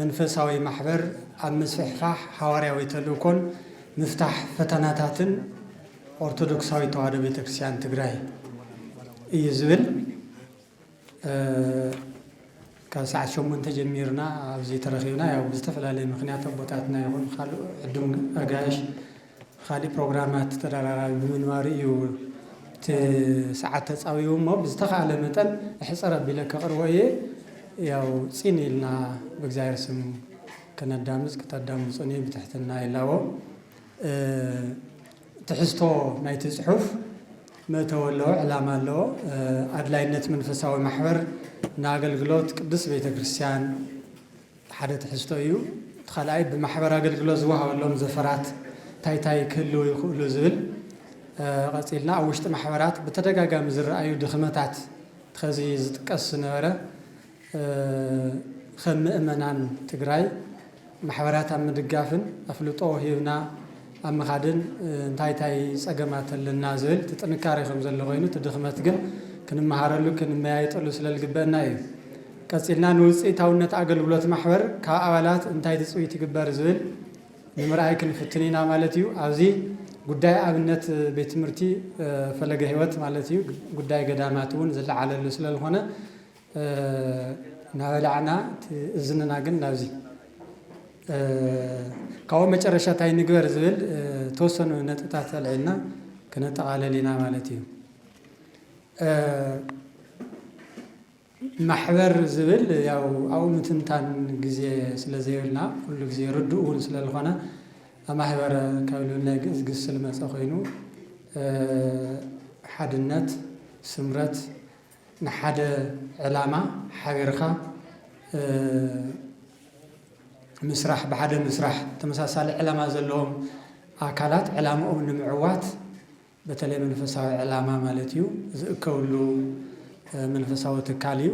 መንፈሳዊ ማሕበር ኣብ ምስፍሕፋሕ ሓዋርያዊ ተልእኮን ምፍታሕ ፈተናታትን ኦርቶዶክሳዊት ተዋህዶ ቤተክርስቲያን ትግራይ እዩ ዝብል ካብ ሰዓት ሸሞንተ ጀሚርና ኣብዚ ተረኺብና ያው ብዝተፈላለየ ምክንያት ኣቦታትና ይኹን ካልእ ዕዱም ኣጋይሽ ኻሊእ ፕሮግራማት ተደራራቢ ብምንባሩ እዩ እቲ ሰዓት ተፃዊቡ እሞ ብዝተኸኣለ መጠን ኣሕፅር ኣቢለ ከቕርቦ እየ። ያው ፂን ኢልና ብእግዚኣብሔር ስም ከነዳምፅ ክተዳምፁኒ ብትሕትና ይላቦ። ትሕዝቶ ናይቲ ፅሑፍ መእተዊ ኣለዎ፣ ዕላማ ኣለዎ። ኣድላይነት መንፈሳዊ ማሕበር ንኣገልግሎት ቅድስት ቤተ ክርስቲያን፣ እቲ ሓደ ትሕዝቶ እዩ። እቲ ካልኣይ ብማሕበር ኣገልግሎት ዝወሃበሎም ዘፈራት እንታይ እንታይ ክህልው ይኽእሉ ዝብል ቐፂልና ኣብ ውሽጢ ማሕበራት ብተደጋጋሚ ዝረኣዩ ድኽመታት ኸዚ ዝጥቀስ ዝነበረ ኸም ምእመናን ትግራይ ማሕበራት ኣብ ምድጋፍን ኣፍልጦ ሂብና ኣብ ምኻድን እንታይ እንታይ ጸገማት ኣለና ዝብል እቲ ጥንካሬ ከም ዘሎ ኮይኑ እቲ ድኽመት ግን ክንመሃረሉ ክንመያየጠሉ ስለ ልግበእና እዩ። ቀጺልና ንውጽኢታውነት ኣገልግሎት ማሕበር ካብ ኣባላት እንታይ ትጽቢት ይግበር ዝብል ንምርኣይ ክንፍትን ኢና ማለት እዩ። ኣብዚ ጉዳይ ኣብነት ቤት ትምህርቲ ፈለገ ሕይወት ማለት እዩ ጉዳይ ገዳማት እውን ዝለዓለሉ ስለ ልኾነ እናበላዕና እቲ እዝንና ግን ናብዚ ካብኡ መጨረሻ እንታይ ንግበር ዝብል ተወሰኑ ነጥብታት ኣልዒልና ክነጠቓለል ኢና ማለት እዩ። ማሕበር ዝብል ያው ኣብኡ ምትንታን ግዜ ስለ ዘይብልና ኩሉ ግዜ ርዱእ እውን ስለ ዝኾነ ማህበረ ካብ ልብል ናይ ግእዝ ግስ ዝመፀ ኮይኑ ሓድነት፣ ስምረት ንሓደ ዕላማ ሓቢርካ ምስራሕ፣ ብሓደ ምስራሕ፣ ተመሳሳሊ ዕላማ ዘለዎም ኣካላት ዕላምኦም ንምዕዋት በተለይ መንፈሳዊ ዕላማ ማለት እዩ ዝእከብሉ መንፈሳዊ ትካል እዩ።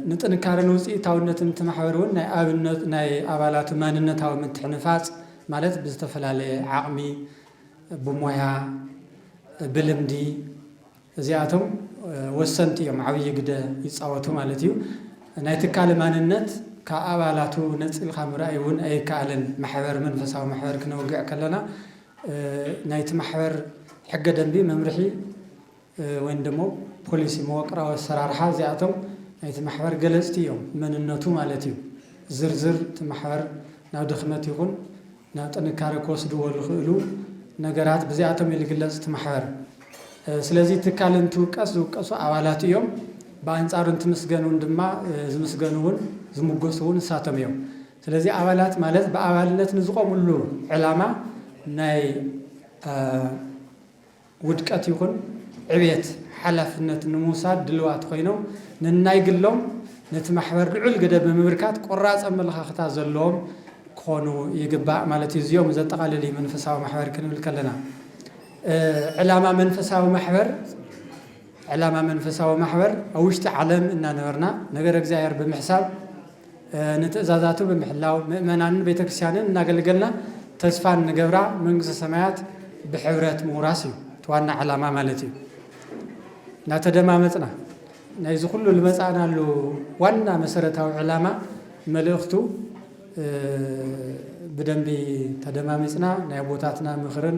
ንጥንካረን ውፅኢታውነትን እቲ ማሕበር እውን ናይ ኣብነት ናይ ኣባላቱ ማንነታዊ ምትሕንፋፅ ማለት ብዝተፈላለየ ዓቕሚ፣ ብሞያ፣ ብልምዲ፣ እዚኣቶም ወሰንቲ እዮም፣ ዓብዪ ግደ ይፃወቱ ማለት እዩ። ናይ ትካል ማንነት ካብ ኣባላቱ ነፂልኻ ምርኣይ እውን ኣይከኣልን። ማሕበር መንፈሳዊ ማሕበር ክነውግዕ ከለና ናይቲ ማሕበር ሕገ ደንቢ፣ መምርሒ ወይም ደሞ ፖሊሲ፣ መወቅራዊ ኣሰራርሓ እዚኣቶም ናይቲ ማሕበር ገለፅቲ እዮም፣ መንነቱ ማለት እዩ። ዝርዝር እቲ ማሕበር ናብ ድኽመት ይኹን ናብ ጥንካረ ክወስድዎ ዝኽእሉ ነገራት ብዚኣቶም እዩ ዝግለጽ እቲ ማሕበር። ስለዚ ትካል እንትውቀስ ዝውቀሱ ኣባላቱ እዮም፣ ብኣንጻሩ እንትምስገን እውን ድማ ዝምስገኑ እውን ዝምጎሱ እውን ንሳቶም እዮም። ስለዚ ኣባላት ማለት ብኣባልነት ንዝቖምሉ ዕላማ ናይ ውድቀት ይኹን ዕብየት ሓላፍነት ንምውሳድ ድልዋት ኮይኖም ነናይ ግሎም ነቲ ማሕበር ልዑል ግደ ብምብርካት ቆራፅ ኣመለኻኽታ ዘለዎም ክኾኑ ይግባእ ማለት እዩ። እዚኦም ዘጠቓልል እዩ መንፈሳዊ ማሕበር ክንብል ከለና። ዕላማ መንፈሳዊ ማሕበር ዕላማ መንፈሳዊ ማሕበር ኣብ ውሽጢ ዓለም እናነበርና ነገረ እግዚኣብሔር ብምሕሳብ ንትእዛዛቱ ብምሕላው ምእመናንን ቤተ ክርስቲያንን እናገልገልና ተስፋ እንገብራ መንግስተ ሰማያት ብሕብረት ምውራስ እዩ እቲ ዋና ዕላማ ማለት እዩ። እናተደማመፅና ናይዚ ኩሉ ልመፃእናሉ ዋና መሰረታዊ ዕላማ መልእኽቱ ብደንቢ ተደማሚፅና ናይ ኣቦታትና ምኽርን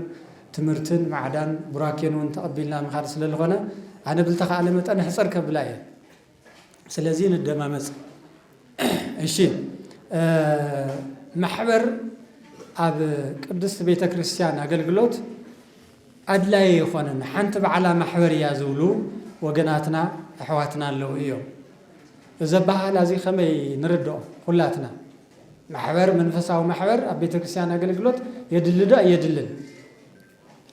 ትምህርትን ማዕዳን ቡራኬን እውን ተቐቢልና ምኻድ ስለልኾነ ኣነ ብልተኻእለ መጠን ሕፅር ከብላ እየ። ስለዚ ንደማመፅ እሺ። ማሕበር ኣብ ቅድስት ቤተ ክርስቲያን ኣገልግሎት ኣድላዪ ኣይኾነን ሓንቲ ባዕላ ማሕበር እያ ዝብሉ ወገናትና ኣሕዋትና ኣለዉ እዮም። እዚ ኣበሃህላ እዚ ከመይ ንርድኦ ኹላትና? ማሕበር መንፈሳዊ ማሕበር ኣብ ቤተ ክርስቲያን ኣገልግሎት የድሊ ዶ ኣየድልን?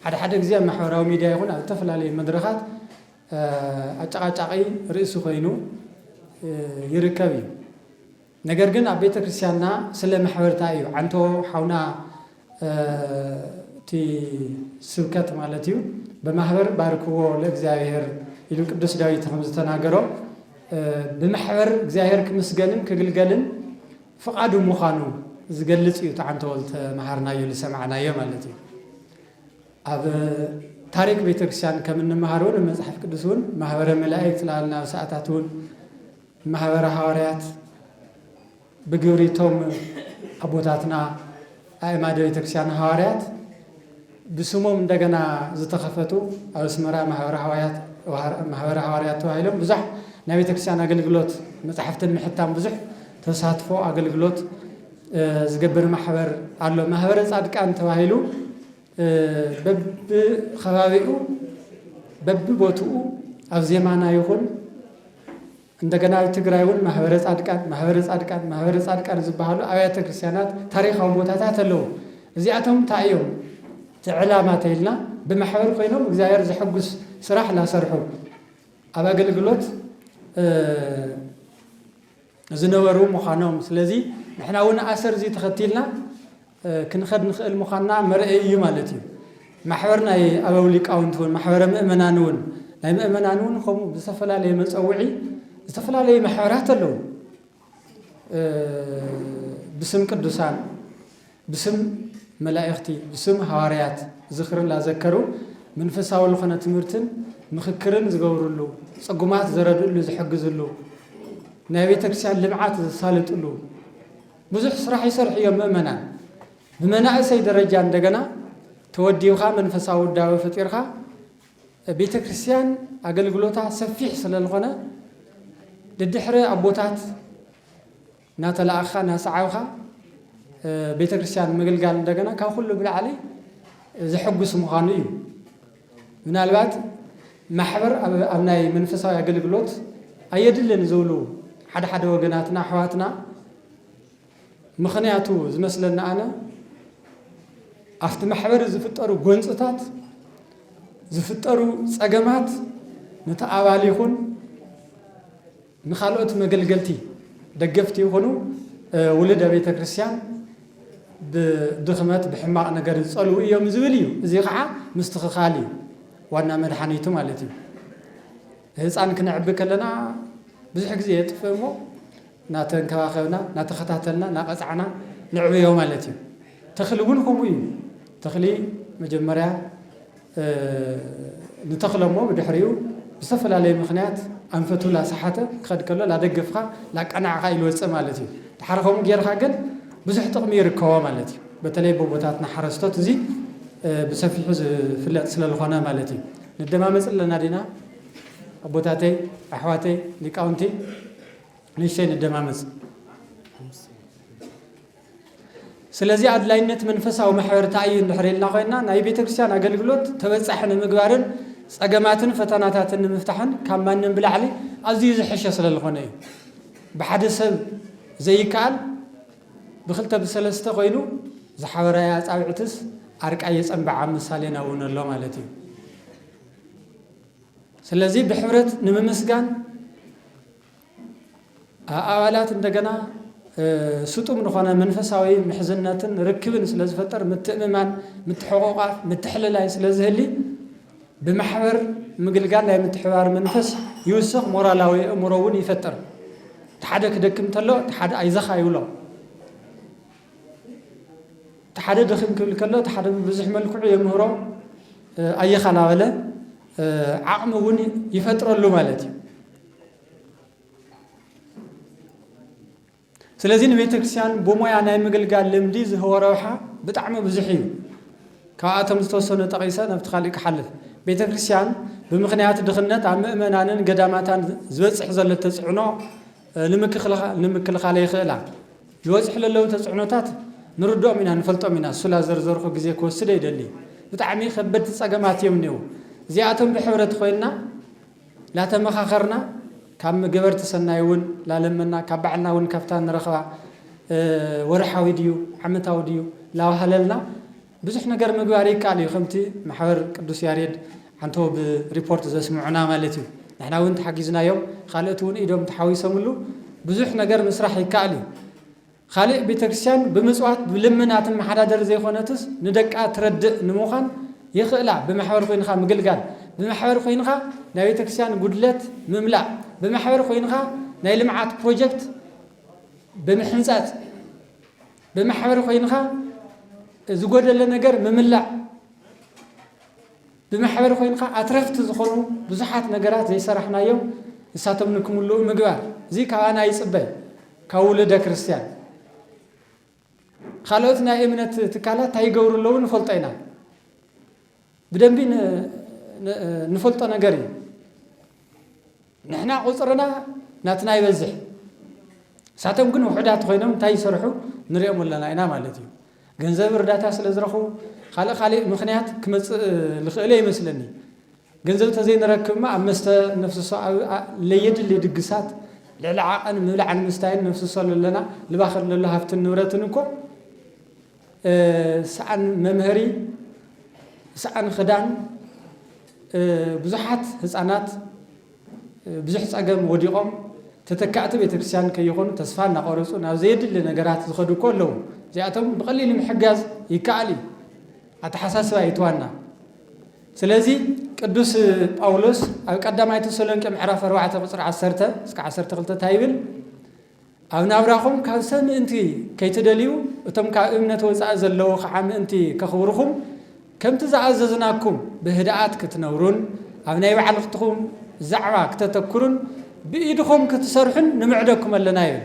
ሓደ ሓደ ግዜ ኣብ ማሕበራዊ ሚድያ ይኹን ኣብ ዝተፈላለዩ መድረኻት ኣጨቓጫቒ ርእሲ ኮይኑ ይርከብ እዩ ነገር ግን ኣብ ቤተ ክርስትያንና ስለ ማሕበርታ እዩ ዓንቶ ሓውና እቲ ስብከት ማለት እዩ ብማሕበር ባርክዎ ለእግዚኣብሔር ኢሉ ቅዱስ ዳዊት ከም ዝተናገሮ ብማሕበር እግዚኣብሔር ክምስገንን ክግልገልን ፍቓዱ ምዃኑ ዝገልጽ እዩ እቲ ዓንቶ ዝተምሃርናዮ ዝሰማዕናዮ ማለት እዩ ኣብ ታሪክ ቤተክርስቲያን ከም እንመሃሮ ን መጽሓፍ ቅዱስ ውን ማህበረ መላእክት ላበልና ኣብ ሰኣታት ውን ማህበረ ሃዋርያት ብግብሪ እቶም ኣቦታትና ኣእማደ ቤተክርስቲያን ሃዋርያት ብስሞም እንደገና ዝተኸፈቱ ኣብ ኣስመራ ማህበረ ሃዋያት ማህበረ ሃዋርያት ተባሂሎም ብዙሕ ናይ ቤተክርስቲያን ኣገልግሎት መጽሓፍትን ምሕታም ብዙሕ ተሳትፎ ኣገልግሎት ዝገብር ማሕበር ኣሎ ማህበረ ጻድቃን ተባሂሉ በብከባቢኡ በብቦትኡ ኣብ ዜማና ይኹን እንደገና ኣብ ትግራይ እውን ማህበረ ፃድቃን ማህበረ ፃድቃን ማህበረ ፃድቃን ዝበሃሉ ኣብያተ ክርስቲያናት ታሪካዊ ቦታታት ኣለዉ። እዚኣቶም እንታይ እዮም እቲ ዕላማ ተይልና ብማሕበር ኮይኖም እግዚኣብሔር ዘሐጉስ ስራሕ እናሰርሑ ኣብ ኣገልግሎት ዝነበሩ ምዃኖም ስለዚ ንሕና እውን ኣሰር እዚ ተኸቲልና ክንኸድ ንኽእል ምዃንና መርኣዪ እዩ ማለት እዩ። ማሕበር ናይ ኣበው ሊቃውንቲ እውን ማሕበረ ምእመናን እውን ናይ ምእመናን እውን ከምኡ ብዝተፈላለየ መፀውዒ ዝተፈላለዩ ማሕበራት ኣለዉ። ብስም ቅዱሳን፣ ብስም መላእኽቲ፣ ብስም ሃዋርያት ዝኽሪ ላዘከሩ መንፈሳዊ ዝኾነ ትምህርትን ምኽክርን ዝገብርሉ ፅጉማት ዘረድእሉ ዝሕግዝሉ ናይ ቤተ ክርስቲያን ልምዓት ዘሳልጥሉ ብዙሕ ስራሕ ይሰርሑ እዮም ምእመናን ብመናእሰይ ደረጃ እንደገና ተወዲብኻ መንፈሳዊ ውዳበ ፈጢርኻ ቤተክርስትያን ኣገልግሎታ ሰፊሕ ስለልኾነ ደድሕሪ ኣቦታት እናተላእኻ እናሰዓብኻ ቤተክርስትያን ምግልጋል እንደገና ካብ ኩሉ ብላዕሊ ዘሐጉስ ምዃኑ እዩ። ምናልባት ማሕበር ኣብ ናይ መንፈሳዊ ኣገልግሎት ኣየድልን ዝብሉ ሓደ ሓደ ወገናትና ኣሕዋትና ምኽንያቱ ዝመስለና ኣነ ኣብቲ ማሕበር ዝፍጠሩ ጎንፅታት ዝፍጠሩ ፀገማት ነቲ ኣባል ይኹን ንካልኦት መገልገልቲ ደገፍቲ ይኹኑ ውሉደ ቤተ ክርስቲያን ብድኽመት ብሕማቕ ነገር ዝጸልዉ እዮም ዝብል እዩ። እዚ ኸዓ ምስትኽኻል እዩ ዋና መድሓኒቱ ማለት እዩ። ህፃን ክነዕቢ ከለና ብዙሕ ግዜ የጥፍእ እሞ ናተንከባኸብና ናተኸታተልና ናቐፃዕና ነዕብዮ ማለት እዩ። ተኽሊ እውን ከምኡ እዩ ተኽሊ መጀመርያ ንተኽለ'ሞ ብድሕሪኡ ብዝተፈላለየ ምኽንያት ኣንፈቱ ላሰሓተ ክኸድ ከሎ ላደገፍኻ ላቃናዕኻ ኢሉ ወጸ ማለት እዩ። ደሓር ከምኡ ጌርኻ ግን ብዙሕ ጥቕሚ ይርከቦ ማለት እዩ። በተለይ በቦታትና ሓረስቶት እዚ ብሰፊሑ ዝፍለጥ ስለልኾነ ማለት እዩ። ንደማመጽ ኣለና ዲና ኣቦታተይ ኣሕዋተይ ሊቃውንቲ ንእሽተይ ንደማመጽ። ስለዚ ኣድላይነት መንፈሳዊ ማሕበርታ እዩ እንድሕር ኢልና ኮይና ናይ ቤተ ክርስቲያን ኣገልግሎት ተበጻሒ ንምግባርን ጸገማትን ፈተናታትን ንምፍታሕን ካብ ማንም ብላዕሊ ኣዝዩ ዝሕሸ ስለ ዝኾነ እዩ። ብሓደ ሰብ ዘይከኣል ብክልተ ብሰለስተ ኮይኑ ዝሓበራይ ኣጻብዕትስ ኣርቃይ የጸንብዓ ኣብ ምሳሌና እውን ኣሎ ማለት እዩ። ስለዚ ብሕብረት ንምምስጋን ኣባላት እንደገና ስጡም ንኾነ መንፈሳዊ ምሕዝነትን ርክብን ስለ ዝፈጠር ምትእምማን፣ ምትሕቑቛፍ፣ ምትሕልላይ ስለ ዝህሊ ብማሕበር ምግልጋል ናይ ምትሕብባር መንፈስ ይውስኽ፣ ሞራላዊ ኣእምሮ እውን ይፈጥር። እቲ ሓደ ክደክም እንተሎ እቲ ሓደ ኣይዘኻ ይብሎ። እቲ ሓደ ድኽም ክብል ከሎ እቲ ሓደ ብብዙሕ መልክዑ የምህሮ፣ ኣየኻ እናበለ ዓቕሚ እውን ይፈጥረሉ ማለት እዩ። ስለዚ ንቤተ ክርስቲያን ብሞያ ናይ ምግልጋል ልምዲ ዝህቦ ረብሓ ብጣዕሚ ብዙሕ እዩ ካብኣቶም ዝተወሰኑ ጠቒሰ ናብቲ ካሊእ ክሓልፍ ቤተ ክርስቲያን ብምኽንያት ድኽነት ኣብ ምእመናንን ገዳማታን ዝበፅሕ ዘሎ ተፅዕኖ ንምክልኻል የኽእላ ዝበፅሑ ዘለዉ ተፅዕኖታት ንርድኦም ኢና ንፈልጦም ኢና ሱላ ዘርዘርኩ ግዜ ክወስደ ይደሊ ብጣዕሚ ከበድቲ ፀገማት እዮም እኒው እዚኣቶም ብሕብረት ኮይንና ላተመኻኸርና ካብ ገበርቲ ሰናይ ውን ላለመና ካብ ባዕልና ውን ካብታ ንረኽባ ወርሓዊ ድዩ ዓመታዊ ድዩ ላዋህለልና ብዙሕ ነገር ምግባር ይካኣል እዩ ከምቲ ማሕበር ቅዱስ ያሬድ ዓንተቦ ብ ሪፖርት ዘስምዑና ማለት እዩ ንሕና ውን ተሓጊዝናዮም ኻልእት ውን ኢዶም ተሓዊሰምሉ ብዙሕ ነገር ምስራሕ ይካኣል እዩ ኻሊእ ቤተክርስቲያን ብምፅዋት ብልመና ትመሓዳደር ዘይኾነትስ ንደቃ ትረድእ ንምዃን የኽእላ ብማሕበር ኾይንኻ ምግልጋል ብማሕበር ኾይንኻ ናይ ቤተክርስቲያን ጉድለት ምምላእ ብማሕበር ኾይንኻ ናይ ልምዓት ፕሮጀክት ብምሕንፃፅ ብማሕበር ኾይንኻ ዝጎደለ ነገር ምምላእ ብማሕበር ኮይንካ ኣትረፍቲ ዝኾኑ ብዙሓት ነገራት ዘይሰራሕናዮም ንሳቶም ንክምልኡ ምግባር እዚ ካባና ይጽበ ካብ ውሉደ ክርስትያን። ካልኦት ናይ እምነት ትካላት እንታይ ይገብሩ ኣለዉ ንፈልጦ ኢና ብደንቢ ንፈልጦ ነገር እዩ። ንሕና ቁጽርና ናትና ይበዝሕ ንሳቶም ግን ውሑዳት ኮይኖም እንታይ ይሰርሑ ንሪኦም ኣለና ኢና ማለት እዩ። ገንዘብ እርዳታ ስለ ዝረኽቡ ካልእ ካሊእ ምኽንያት ክመጽእ ልኽእለ ይመስለኒ። ገንዘብ ተዘይንረክብ እማ ኣብ መስተ ነፍስሶ ኣብ ለየድሊ ድግሳት ልዕሊ ዓቐን ምብላዕን ምስታይን ነፍስሶ ለለና ልባኽር ለሎ ሃፍትን ንብረትን እኮ ሰኣን መምሀሪ፣ ሰኣን ኽዳን፣ ብዙሓት ህፃናት ብዙሕ ፀገም ወዲቖም ተተካእቲ ቤተክርስትያን ከይኾኑ ተስፋ እናቖረፁ ናብ ዘየድሊ ነገራት ዝኸዱ እኮ ኣለዉ። እዚኣቶም ብቐሊሉ ምሕጋዝ ይከኣል እዩ። ኣተሓሳስባ እዩ እቲ ዋና። ስለዚ ቅዱስ ጳውሎስ ኣብ ቀዳማይ ተሰሎንቄ ምዕራፍ ኣርባዕተ ቁፅሪ ዓሰርተ እስከ ዓሰርተ ክልተ እንታይ ይብል? ኣብ ናብራኹም ካብ ሰብ ምእንቲ ከይትደልዩ፣ እቶም ካብ እምነት ወጻኢ ዘለዉ ኸኣ ምእንቲ ከኽብሩኹም፣ ከምቲ ዝኣዘዝናኩም ብህድኣት ክትነብሩን ኣብ ናይ ባዕልኽትኹም ዛዕባ ክተተኩሩን ብኢድኹም ክትሰርሑን ንምዕደኩም ኣለና ይብል።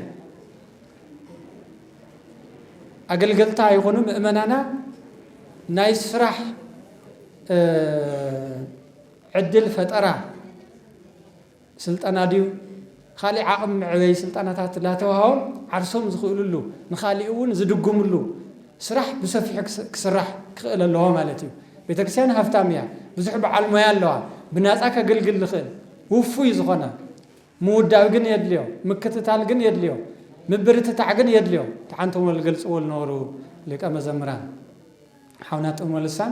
ኣገልገልታ ይኹኑ ምእመናና ናይ ስራሕ ዕድል ፈጠራ ስልጠና ድዩ ኻሊእ ዓቕሚ መዕበዪ ስልጠናታት እናተዋህቦም ዓርሶም ዝኽእልሉ ንኻሊእ እውን ዝድግምሉ ስራሕ ብሰፊሑ ክስራሕ ክኽእል ኣለዎ ማለት እዩ። ቤተክርስቲያን ሃፍታም እያ ብዙሕ በዓል ሞያ ኣለዋ ብናፃ ከግልግል ዝኽእል ውፉይ ዝኾነ ምውዳብ ግን የድልዮ ምክትታል ግን የድልዮ ምብርትታዕ ግን የድልዮ ተሓንቶሞ ዝገልፅዎ ዝነበሩ ሊቀ መዘምራን ሓውና ጥዑመ ልሳን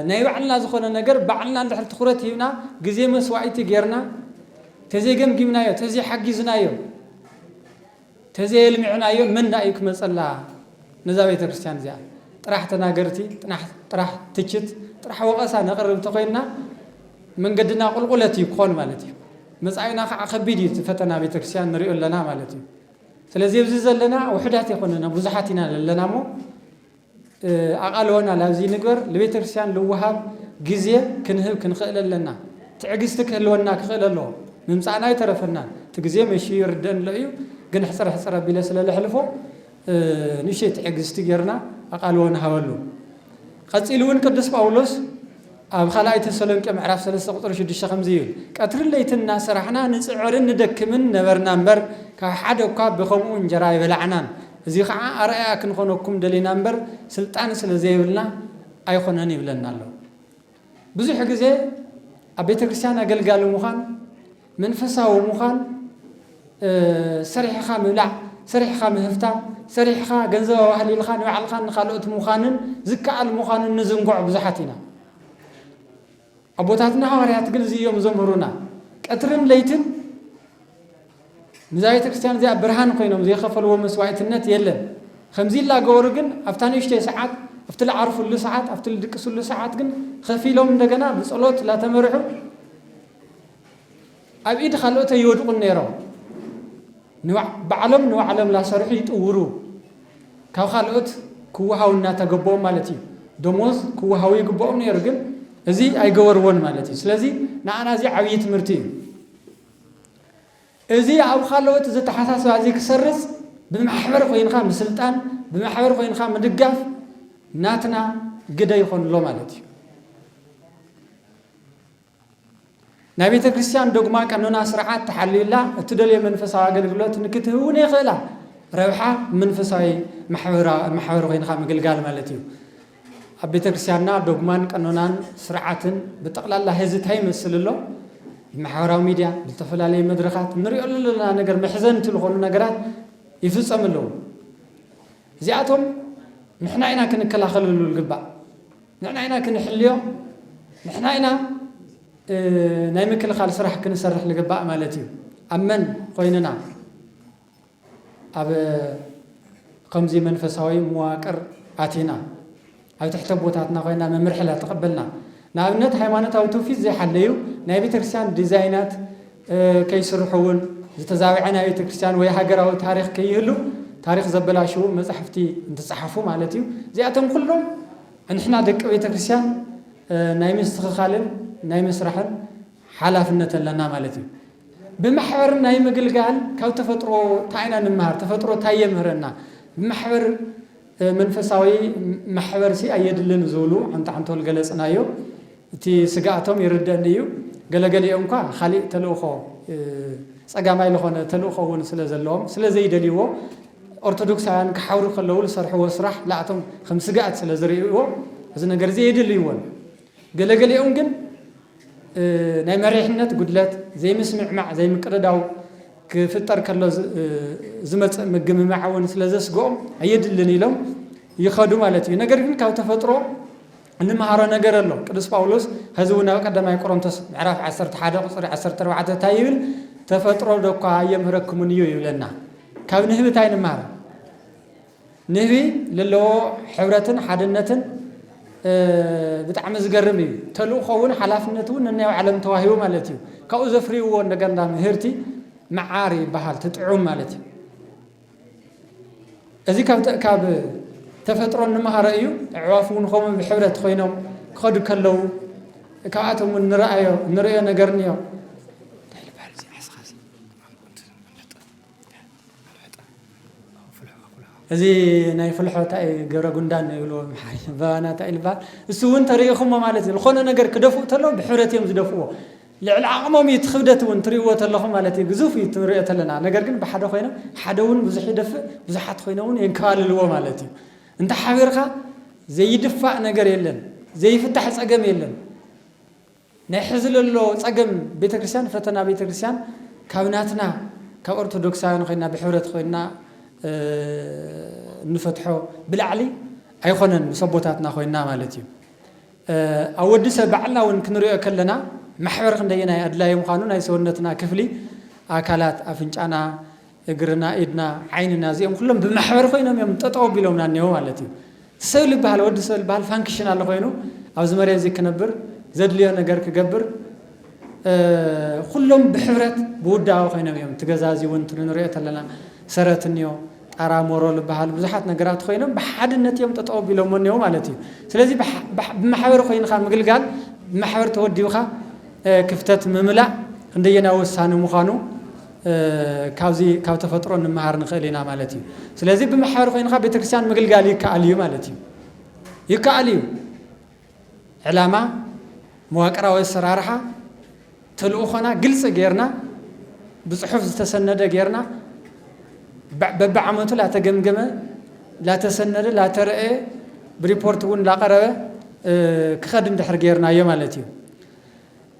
ናይ ባዕልና ዝኾነ ነገር ባዕልና እንድሕር ትኹረት ሂብና ግዜ መስዋኢቲ ጌርና ተዘይገምጊምናዮ ተዘይሓጊዝናዮ ተዘየልሚዕናዮ መን ዳኣ እዩ ክመፀላ ነዛ ቤተ ክርስቲያን እዚኣ ጥራሕ ተናገርቲ ጥራሕ ትችት ጥራሕ ወቐሳ ነቕርብ እንተኾይንና መንገድና ቁልቁለት እዩ ክኾን ማለት እዩ መፃኢና ከዓ ከቢድ እዩ እቲ ፈተና ቤተ ክርስቲያን ንሪኦ ኣለና ማለት እዩ ስለዚ ኣብዚ ዘለና ውሑዳት ኣይኮነና ብዙሓት ኢና ዘለና እሞ ኣቓልቦና ላብዚ ንግበር ልቤተ ክርስቲያን ልወሃብ ግዜ ክንህብ ክንኽእል ኣለና ትዕግስቲ ክህልወና ክኽእል ኣለዎ ምምጻእና ኣይተረፈናን እቲ ግዜ መሽዩ ይርደእኒ ኣሎ እዩ ግን ሕጽር ሕጽር ኣቢለ ስለ ለሕልፎ ንእሽተይ ትዕግስቲ ጌርና ኣቓልቦ ንሃበሉ ቀጺሉ እውን ቅዱስ ጳውሎስ ኣብ ኻልኣይ ተሰሎንቄ ምዕራፍ ሰለስተ ቁጽሪ ሽዱሽተ ከምዚ ይብል፣ ቀትርን ለይትን እናሰራሕና ንጽዕርን ንደክምን ነበርና እምበር፣ ካብ ሓደ እኳ ብኸምኡ እንጀራ ኣይበላዕናን፣ እዚ ኸዓ ኣርኣያ ክንኾነኩም ደሊና እምበር፣ ስልጣን ስለ ዘየብልና ኣይኾነን ይብለና ኣሎ። ብዙሕ ግዜ ኣብ ቤተክርስትያን ኣገልጋሊ ምዃን፣ መንፈሳዊ ምዃን፣ ሰሪሕኻ ምብላዕ፣ ሰሪሕኻ ምህፍታም፣ ሰሪሕኻ ገንዘብ ኣዋህሊልኻ ንባዕልኻን ንኻልኦት ምዃንን ዝከኣል ምዃኑ እንዝንግዖ ብዙሓት ኢና። ኣቦታትና ሃዋርያት ግን እዚ እዮም ዘምህሩና። ቀትርን ለይትን ንዛ ቤተ ክርስቲያን እዚኣ ብርሃን ኮይኖም ዘይኸፈልዎ መስዋዕትነት የለን። ከምዚ ይላገበሩ ግን ኣብታ ንእሽተይ ሰዓት ኣብቲ ልዓርፍሉ ሰዓት ኣብቲ ልድቅስሉ ሰዓት ግን ኸፊሎም እንደገና ብጸሎት ላተመርሑ ኣብ ኢድ ኻልኦት ኣይወድቑን ነይሮም። ንባዕሎም ንባዕሎም እናሰርሑ ይጥውሩ። ካብ ኻልኦት ክወሃቡ እናተገበኦም ማለት እዩ። ደሞዝ ክወሃቡ ይግበኦም ነይሩ፣ ግን እዚ ኣይገበርዎን ማለት እዩ። ስለዚ ንኣና እዚ ዓብዪ ትምህርቲ እዩ። እዚ ኣብ ኻልኦት ዘተሓሳስባ እዚ ክሰርፅ ብማሕበር ኮይንካ ምስልጣን፣ ብማሕበር ኮይንካ ምድጋፍ ናትና ግደ ይኾን ኣሎ ማለት እዩ። ናይ ቤተ ክርስቲያን ዶግማ ቀኖና ስርዓት ተሓልዩላ እትደልዮ መንፈሳዊ ኣገልግሎት ንክትህውን የኽእላ። ረብሓ መንፈሳዊ ማሕበር ኮይንኻ ምግልጋል ማለት እዩ። ኣብ ቤተ ክርስቲያንና ዶግማን ቀኖናን ስርዓትን ብጠቕላላ ሕዚ እንታይ ይመስል ኣሎ? ብማሕበራዊ ሚድያ ብዝተፈላለዩ መድረኻት ንሪኦ ዘለና ነገር መሕዘንቲ ዝኾኑ ነገራት ይፍጸሙ ኣለዉ። እዚኣቶም ንሕና ኢና ክንከላኸለሉ ዝግባእ። ንሕና ኢና ክንሕልዮ፣ ንሕና ኢና ናይ ምክልኻል ስራሕ ክንሰርሕ ንግባእ ማለት እዩ። ኣብ መን ኾይንና? ኣብ ኸምዚ መንፈሳዊ መዋቅር ኣቲና፣ ኣብ ትሕቲ ኣቦታትና ኮይና መምርሒ ላተቐበልና፣ ንኣብነት ሃይማኖታዊ ትውፊት ዘይሓለዩ ናይ ቤተክርስቲያን ዲዛይናት፣ ከይስርሑ እውን ዝተዛብዐ ናይ ቤተክርስትያን ወይ ሃገራዊ ታሪኽ ከይህሉ ታሪኽ ዘበላሽዉ መጻሕፍቲ እንትጸሓፉ ማለት እዩ። እዚኣቶም ኩሎም ንሕና ደቂ ቤተክርስትያን ናይ ምስትኽኻልን ናይ ምስራሕን ሓላፍነት ኣለና ማለት እዩ። ብማሕበር ናይ ምግልጋል ካብ ተፈጥሮ እንታይ ኢና ንመሃር? ተፈጥሮ እንታይ የምህረና? ብማሕበር መንፈሳዊ ማሕበርሲ ኣየድልን ዝብሉ ዓንተዓንተል ገለ ጽናዮ። እቲ ስግኣቶም ይርደእኒ እዩ። ገለገሊኦም'ኳ ኻሊእ ተልእኾ፣ ጸጋማይ ልኾነ ተልእኾ'ውን ስለ ዘለዎም፣ ስለ ዘይደልይዎ፣ ኦርቶዶክሳውያን ክሓብሩ ከለዉ ልሰርሕዎ ስራሕ ልኣቶም ከም ስግኣት ስለ ዝርእይዎ እዚ ነገር'ዚ የድልይዎን። ገለገሊኦም ግን ናይ መሪሕነት ጉድለት፣ ዘይምስምዕማዕ፣ ዘይምቅድዳው ክፍጠር ከሎ ዝመፅእ ምግምማዕ እውን ስለዘስግኦም ኣየድልን ኢሎም ይኸዱ ማለት እዩ። ነገር ግን ካብ ተፈጥሮ እንመሃሮ ነገር ኣሎ። ቅዱስ ጳውሎስ ሐዚ እውን ኣብ ቀዳማይ ቆሮንቶስ ምዕራፍ ዓሰርተ ሓደ ቁፅሪ ዓሰርተ ኣርባዕተ እንታይ ይብል? ተፈጥሮ ዶኳ ኣየምህረክሙን እዩ ይብለና። ካብ ንህብት ኣይንመሃር። ንህቢ ልለዎ ሕብረትን ሓድነትን ብጣዕሚ ዝገርም እዩ ተልእኾ ውን ሓላፍነት ውን ነናይ ባዕሎም ተዋሂቡ ማለት እዩ ካብኡ ዘፍርይዎ እንደገና ምህርቲ መዓር ይበሃል ትጥዑም ማለት እዩ እዚ ካብ ተፈጥሮ እንመሃሮ እዩ ኣዕዋፍ እውን ከምኡ ብሕብረት ኮይኖም ክኸዱ ከለዉ ካብኣቶም እውን ንረኣዮ ንሪኦ ነገር እኒኦ እዚ ናይ ፍልሖ ታይ ገብረ ጉንዳን ይብልዎ ኣምሓርኛ ባባና ታይ ልበሃል እሱ እውን ተሪኢኹሞ ማለት እዩ ዝኾነ ነገር ክደፍኡ ተለዉ ብሕብረት እዮም ዝደፍዎ ልዕሊ ዓቕሞም እዩ እቲ ክብደት እውን ትሪእዎ ተለኹም ማለት እዩ ግዙፍ እዩ ትንሪኦ ተለና ነገር ግን ብሓደ ኮይኖም ሓደ እውን ብዙሕ ይደፍእ ብዙሓት ኮይኖም እውን የንከባልልዎ ማለት እዩ እንተ ሓቢርኻ ዘይድፋእ ነገር የለን ዘይፍታሕ ፀገም የለን። ናይ ሕዚ ለሎ ጸገም ቤተክርስትያን ፈተና ቤተክርስትያን ካብ ናትና ካብ ኦርቶዶክሳውያን ኮይና ብሕብረት ኮይና እንፈትሖ ብላዕሊ ኣይኮነን ምስ ኣቦታትና ኮይና ማለት እዩ ኣብ ወዲ ሰብ ባዕልና እውን ክንሪኦ ከለና ማሕበር ክንደየናይ ኣድላዪ ምዃኑ ናይ ሰውነትና ክፍሊ ኣካላት ኣፍንጫና እግርና ኢድና ዓይንና እዚኦም ኩሎም ብማሕበር ኮይኖም እዮም ጠጠው ኣቢሎምና እኔዉ ማለት እዩ። እቲ ሰብ ልበሃል ወዲ ሰብ ልበሃል ፋንክሽናል ኮይኑ ኣብዚ መሬት እዚ ክነብር ዘድልዮ ነገር ክገብር ኩሎም ብሕብረት ብውዳበ ኮይኖም እዮም እቲ ገዛ እዚ እውን ንሪኦ ተለና ሰረት እኒኦ ጣራ ሞሮ ልበሃል ብዙሓት ነገራት ኮይኖም ብሓድነት እዮም ጠጠው ኣቢሎሞ እኔዉ ማለት እዩ። ስለዚ ብማሕበር ኮይንካ ምግልጋል ብማሕበር ተወዲብካ ክፍተት ምምላእ ክንደየናይ ወሳኒ ምዃኑ ካብዚ ካብ ተፈጥሮ ንመሃር ንኽእል ኢና ማለት እዩ። ስለዚ ብማሕበር ኮይንኻ ቤተክርስትያን ምግልጋል ይከኣል እዩ ማለት እዩ። ይከኣል እዩ። ዕላማ፣ መዋቅራዊ ኣሰራርሓ፣ ተልእኾና ግልፂ ገይርና ብፅሑፍ ዝተሰነደ ገይርና በቢዓመቱ ላተገምገመ፣ ላተሰነደ፣ ላተረእየ ብሪፖርት እውን ላቐረበ ክኸድ እንድሕር ገይርናዮ ማለት እዩ።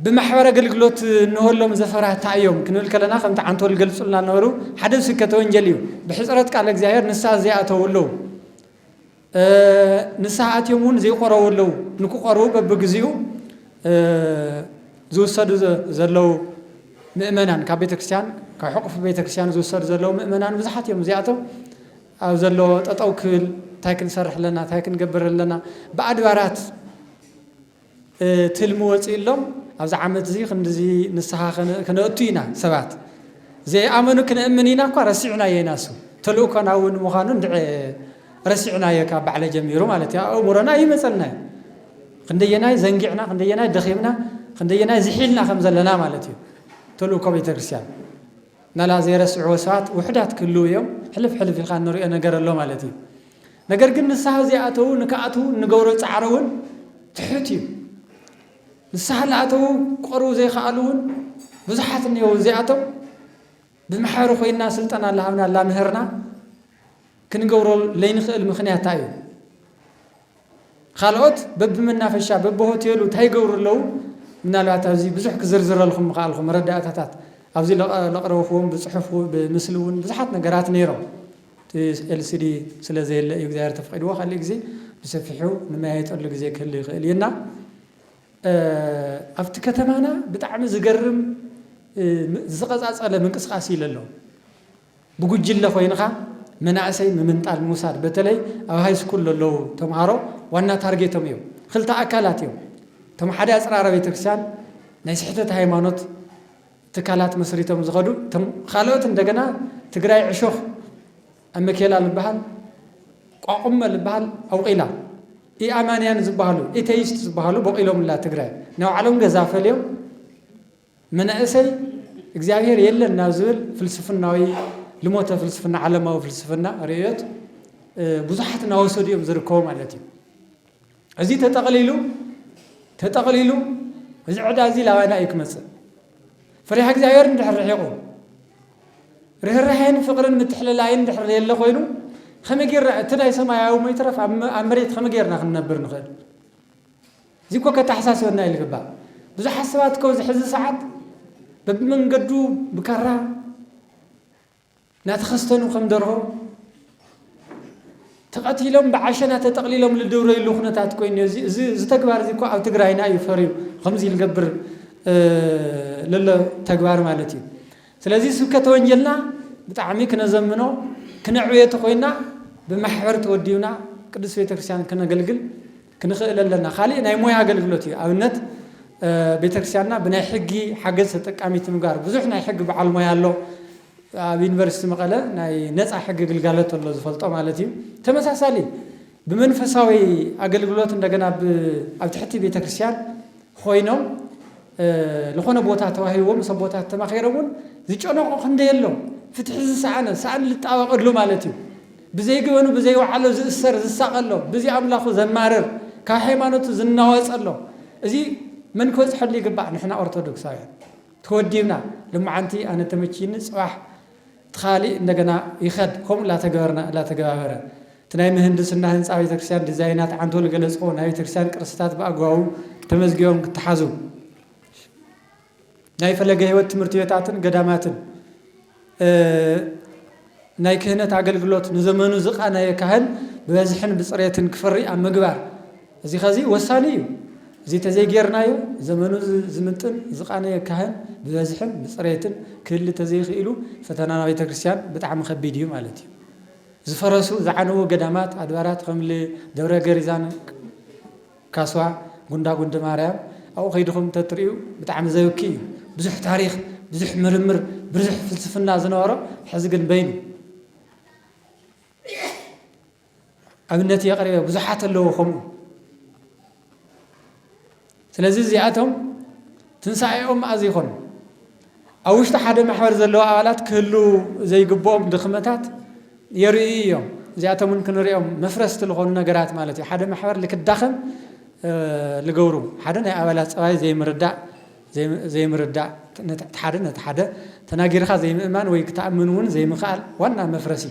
ብማሕበረ ኣገልግሎት እንሆሎም ዘፈራ እንታይ እዮም ክንብል ከለና ከምቲ ዓንቶል ዝገልጹልና ዝነበሩ ሓደ ስብከተ ወንጀል እዩ ብሕጽረት ቃለ እግዚኣብሔር ንስሓ ዘይኣተው ኣለው ንስሓ ኣትዮም እውን ዘይቆረቡ ኣለው ንክቆርቡ በብግዚኡ ዝውሰዱ ዘለው ምእመናን ካብ ቤተክርስትያን ካብ ሕቁፍ ቤተክርስትያን ዝውሰዱ ዘለው ምእመናን ብዙሓት እዮም እዚኣቶም ኣብ ዘሎ ጠጠው ክብል እንታይ ክንሰርሕ ኣለና እንታይ ክንገብር ኣለና ብኣድባራት ትልሚ ወጺኡሎም ኣብዚ ዓመት እዚ ክንድዚ ንስሃ ክነእቱ ኢና ሰባት ዘይኣመኑ ክነእምን ኢና እኳ ረሲዕናዮ ኢና እሱ ተልእኮና እውን ምዃኑ እንድዒ ረሲዕናዮ ካብ ባዕለ ጀሚሩ ማለት እዩ ኣእምሮና ኣይመጸልና እዩ ክንደየናይ ዘንጊዕና ክንደየናይ ደኺምና ክንደየናይ ዝሒልና ከም ዘለና ማለት እዩ ተልእኮ ቤተ ክርስቲያን ናላ ዘይረስዕዎ ሰባት ውሕዳት ክህልው እዮም ሕልፍ ሕልፍ ኢልካ እንሪኦ ነገር ኣሎ ማለት እዩ ነገር ግን ንስሃ ዘይኣተዉ ንክኣትዉ እንገብሮ ጻዕሪ ውን ትሑት እዩ። ንስሃ ልኣተዉ ክቐርቡ ዘይክኣሉ ውን ብዙሓት እኔዉ እዚኣቶም ብመሐሪ ኮይንና ስልጠና ላሃብና ላምህርና ክንገብሮ ለይንክእል ምክንያት ታይ እዩ? ካልኦት በብመናፈሻ በብሆቴሉ ታይ ይገብሩ ኣለዉ? ምናልባት ኣብዚ ብዙሕ ክዝርዝረልኩም ምክኣልኩ መረዳእታታት ኣብዚ ለቕረብክዎም ብጽሑፍ ብምስሊ ውን ብዙሓት ነገራት ነይሮም። እቲ ኤልሲዲ ስለ ዘየለ እዩ እግዚኣብሔር ተፈቂድዎ ካሊእ ግዜ ብሰፊሑ ንመያየጠሉ ግዜ ክህሉ ይክእል እዩ እና ኣብቲ ከተማና ብጣዕሚ ዝገርም ዝቀጻጸለ ምንቅስቃስ እዩ ለሎ ብጉጅለ ኮይንኻ መናእሰይ ምምንጣል ምውሳድ በተለይ ኣብ ሃይስኩል ለለዉ ተምሃሮ ዋና ታርጌቶም እዩ ክልተ ኣካላት እዮም እቶም ሓደ ኣጽራረ ቤተክርስቲያን ናይ ስሕተት ሃይማኖት ትካላት መስሪቶም ዝኸዱ እቶም ኻልኦት እንደገና ትግራይ ዕሾኽ ኣመኬላ ልበሃል ቋቁመ ልበሃል ኣውቂላ ኢኣማንያን ዝበሃሉ ኢተይስት ዝበሃሉ ቦቂሎምላ ትግራይ ናይ ባዕሎም ገዛ ፈልዮም መናእሰይ እግዚኣብሔር የለን ናብ ዝብል ፍልስፍናዊ ልሞተ ፍልስፍና ዓለማዊ ፍልስፍና ርእዮት ብዙሓት እናወሰዱ እዮም ዝርከቡ ማለት እዩ። እዚ ተጠቕሊሉ ተጠቕሊሉ እዚ ዕዳ እዚ ላባና እዩ ክመጽእ። ፍሪሃ እግዚኣብሔር እንድሕር ርሒቑ ርህራሄን ፍቕርን ምትሕልላይን ድሕር ዘየለ ኮይኑ ከመይ ጌርና እቲ ናይ ሰማያዊ ሞይትረፍ ኣብ መሬት ከመይ ጌርና ክንነብር ንኽእል እዚ እኮ ከተሓሳስበና እዩ ዝግባእ ብዙሓት ሰባት ከዚ ሕዚ ሰዓት በብመንገዱ ብካራ ናተኸስተኑ ከም ደርሆ ተቐቲሎም ብዓሸና ተጠቕሊሎም ልድብረይሉ ኩነታት ኮይኑ እዩ። እዚ እዚ እዚ ተግባር እዚ እኮ ኣብ ትግራይና እዩ ፈርዩ ከምዚ ልገብር እ፣ ለሎ ተግባር ማለት እዩ። ስለዚ ስብከተ ወንጌልና ብጣዕሚ ክነዘምኖ ክነዕብዮ ተኾይና ብማሕበር ተወዲብና ቅድስት ቤተክርስቲያን ክነገልግል ክንኽእል ኣለና። ካሊእ ናይ ሞያ ኣገልግሎት እዩ። ኣብነት ቤተክርስቲያንና ብናይ ሕጊ ሓገዝ ተጠቃሚት ምግባር። ብዙሕ ናይ ሕጊ በዓል ሞያ ኣሎ። ኣብ ዩኒቨርሲቲ መቐለ ናይ ነፃ ሕጊ ግልጋሎት ኣሎ ዝፈልጦ ማለት እዩ። ተመሳሳሊ ብመንፈሳዊ ኣገልግሎት እንደገና ኣብ ትሕቲ ቤተክርስቲያን ኾይኖም ልኾነ ቦታ ተዋሂቦም ሰብ ቦታ ተማኺሮም እውን ዝጨነቆ ክንደይ ኣሎ። ፍትሒ ዝሰኣነ ሰኣን ልጣበቀሉ ማለት እዩ። ብዘይ ገበኑ ብዘይ ወዓሎ ዝእሰር ዝሳቐ ኣሎ፣ ብዘይ ኣምላኹ ዘማርር ካብ ሃይማኖቱ ዝናወጽ ኣሎ፣ እዚ መን ክበጽሐሉ ይግባእ ንሕና ኦርቶዶክሳውያን ተወዲብና ልማዓንቲ ኣነ ተመችይኒ ጽባሕ እቲ ካሊእ እንደገና ይኸድ ከምኡ እላተገበርና እላተገባበረ እቲ ናይ ምህንድስና ህንጻ ቤተክርስትያን ዲዛይናት ዓንቶል ገለጽዎ ናይ ቤተክርስትያን ቅርስታት ብኣግባቡ ተመዝጊቦም ክተሓዙ ናይ ፈለገ ሕይወት ትምህርት ቤታትን ገዳማትን ናይ ክህነት ኣገልግሎት ንዘመኑ ዝቃነየ ካህን ብበዝሕን ብጽሬትን ክፈሪ ኣብ ምግባር እዚ ከዚ ወሳኒ እዩ። እዚ ተዘይጌርናዮ ዘመኑ ዝምጥን ዝቃነየ ካህን ብበዝሕን ብጽሬትን ክህሊ ተዘይክኢሉ ፈተና ናብ ቤተክርስትያን ብጣዕሚ ከቢድ እዩ ማለት እዩ። ዝፈረሱ ዝዓነዉ ገዳማት ኣድባራት ከምል ደብረ ገሪዛን፣ ካሷ ጉንዳ ጉንዲ ማርያም ኣብኡ ከይድኹም እንተትርእዩ ብጣዕሚ ዘብኪ እዩ ብዙሕ ታሪኽ ብዙሕ ምርምር ብርዙሕ ፍልስፍና ዝነበሮ ሕዚ ግን በይኑ ኣብነት የቕርበ ብዙሓት ኣለዎ ከምኡ ስለዚ እዚኣቶም ትንሳኤኦም ኣዚኾን ኣብ ውሽጢ ሓደ ማሕበር ዘለዉ ኣባላት ክህልዉ ዘይግብኦም ድኽመታት የርእዩ እዮም። እዚኣቶም እውን ክንሪኦም መፍረስቲ ዝኾኑ ነገራት ማለት እዩ። ሓደ ማሕበር ልክዳኸም ልገብሩ ሓደ ናይ ኣባላት ፀባይ ዘይምርዳእ ዘይምርዳእ ሓደ ነቲ ሓደ ተናጊርኻ ዘይምእማን ወይ ክትኣምን እውን ዘይምኽኣል ዋና መፍረሲ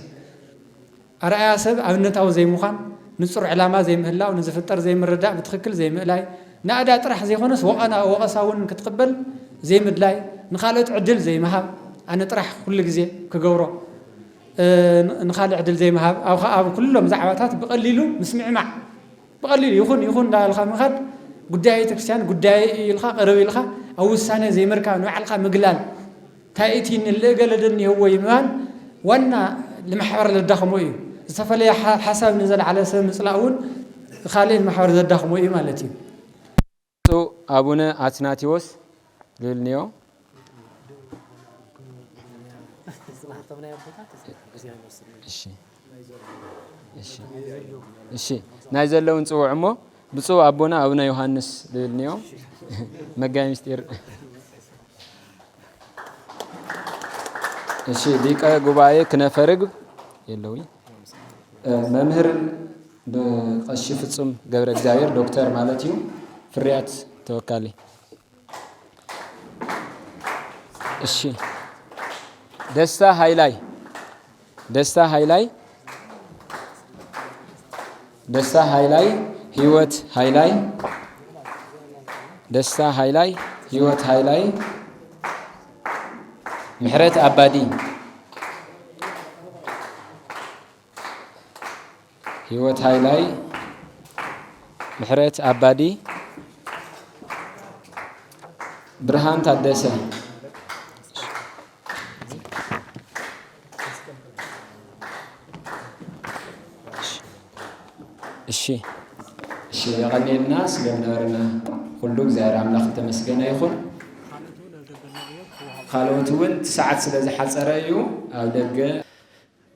ኣርኣያ ሰብ ኣብነታዊ ዘይምዃን፣ ንጹር ዕላማ ዘይምህላው፣ ንዝፍጠር ዘይምርዳእ፣ ብትኽክል ዘይምእላይ፣ ናእዳ ጥራሕ ዘይኮነስ ወቐና ወቐሳ እውን ክትቕበል ዘይምድላይ፣ ንኻልኦት ዕድል ዘይምሃብ፣ ኣነ ጥራሕ ኩሉ ግዜ ክገብሮ ንኻልእ ዕድል ዘይምሃብ፣ ኣብ ኩሎም ዛዕባታት ብቐሊሉ ምስምዕማዕ፣ ብቐሊሉ ይኹን ይኹን እንዳበልካ ምኻድ፣ ጉዳይ ቤተክርስቲያን ጉዳየይ እዩ ኢልካ ቅርብ ኢልካ ኣብ ውሳነ ዘይምርካብ፣ ንባዕልካ ምግላል፣ ታይ እቲ ንል ገለ ዶ እኒሀዎ እዩ ምባል ዋና ንማሕበር ዘዳኽሞ እዩ። ዝተፈለየ ሓሳብ ንዘልዓለ ሰብ ምፅላእ እውን ኻሊእ ንማሕበር ዘዳኽሞ እዩ ማለት እዩ። ብፁዕ ኣቡነ ኣትናቴዎስ ልልንዮ። እሺ ናይ ዘለውን ጽውዕ እሞ ብፁዕ ኣቦና ኣቡነ ዮሃንስ ዝብል እኒኦ መጋቢ ምስጢር እሺ ሊቀ ጉባኤ ክነፈ ርግብ የለዊ መምህር ብቀሺ ፍጹም ገብረ እግዚኣብሔር ዶክተር ማለት እዩ ፍርያት ተወካሊ እሺ ደስታ ሃይላይ ደስታ ሃይላይ ደስታ ሃይላይ ህይወት ሃይላይ ደስታ ሃይላይ ህይወት ሃይላይ ምሕረት ኣባዲ ህይወት ሃይላይ፣ ምሕረት ኣባዲ፣ ብርሃን ታደሰ እሺ እሺ የቀኔልና ስለነበረና ኩሉ እግዚኣብሔር ኣምላኽ ተመስገነ ይኹን። ካልኦት እውን ሰዓት ስለ ዝሓፀረ እዩ ኣብ ደገ